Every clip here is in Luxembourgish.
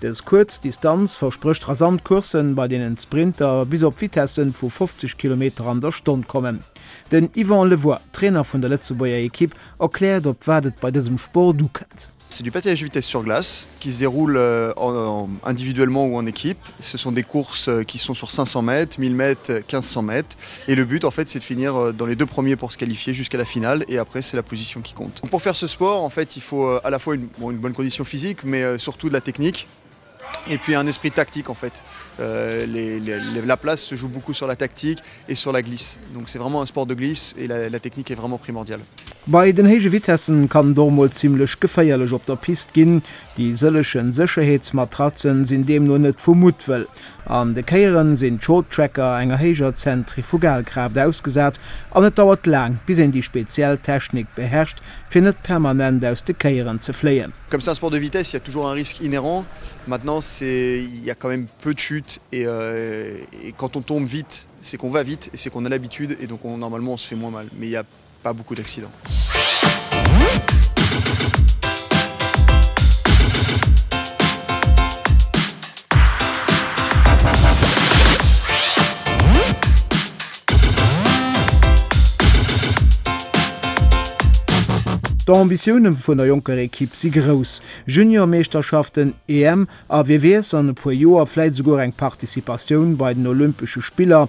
Dës kuerz Distanz versprécht rasant Courssen, bei deenen d'Sprinter bis op Vitessen vu 50 Kilometer an der Stonn kommen. Den Yvan Le Voit, Trainer vun der Lëtzebuerger Ekipp, erkläert, op wat et bei dësem Sport ukënnt. C'est du patinage de vitesse sur glace qui se déroule individuellement ou en équipe. Ce sont des courses qui sont sur 500 mètres, 1000 mètres, 1500 mètres. Et le but en fait c'est de finir dans les deux premiers pour se qualifier jusqu'à la finale et après c'est la position qui compte. Pour faire ce sport en fait il faut à la fois une bon une bonne condition physique mais surtout de la technique et puis un esprit tactique en fait les les la place se joue beaucoup sur la tactique et sur la glisse donc c'est vraiment un sport de glisse et la la technique est vraiment primordiale. Bei den héije Vitessen kann et och mol zimlech geféierlech op der Piste ginn. Déi sëllechen Sécherheetsmatratzen sinn deemno net vu Muttwëll. An de Kéieren sinn d'Shorttracker enger héijer Zentrifugalkraaft ausgesat an et dauert laang, bis een déi speziell Technik beherrscht, fir net permanent aus de Kéieren ze fléien. Comme c'est un sport de vitesse, il y a toujours un risque inhérent. Maintenant, c'est, il y a quand même peu de chutes et quand on tombe vite, c'est qu'on va vite et c'est qu'on a l'habitude et donc on, normalement, on se fait moins mal. Mais il y a. Pas beaucoup d'accidents. D'Ambitioune vun der jonker Ekipp si grouss, Juniormeeschterschaften, EM a wie weess, an e puer Joer vläit esouguer eng Participatioun bei den Olympesche Spiller.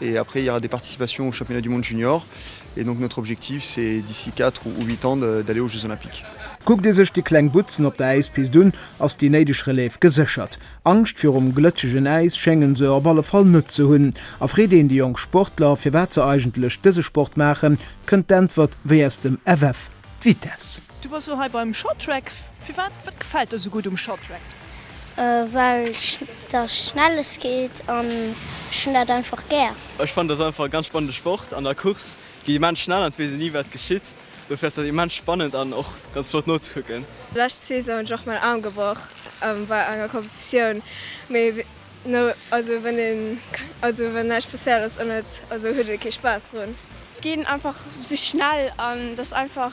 Et après il y aura des participations aux championnats du monde junior et donc notre objectif c'est d'ici quatre ou huit ans d'aller aux jeux olympiques. Kuckt ee sech déi kleng Butzen op der Äispist un, ass déi néideg Relève geséchert. Angscht virum glëtschegen Äis schéngen se op alle Fall net ze hunn. A freet een déi jonk Sportler, firwat se eigentlech dëse Sport maachen, kënnt d'Äntwert wéi aus dem FF, d'Vitesse. Du bass lo hei beim Shorttrack. Firwat? Wat gefält der sou gutt um Shorttrack? Well dat schnelles geet an ech hunn dat einfach gär. Ech fannen dat einfach e ganz spannende Sport. An der Course gi immens schnell an et weess een ni wat geschitt. Dofir ass dat immens spannend an och ganz flott nozekucken. Lescht Saison hunn ech och mäin Aarm gebroch bei enger Competitioun, mee no also wann een also wann näischt spécial ass an et also huet ee kee Spaass drun. Ginn einfach sou schnell an dat ass einfach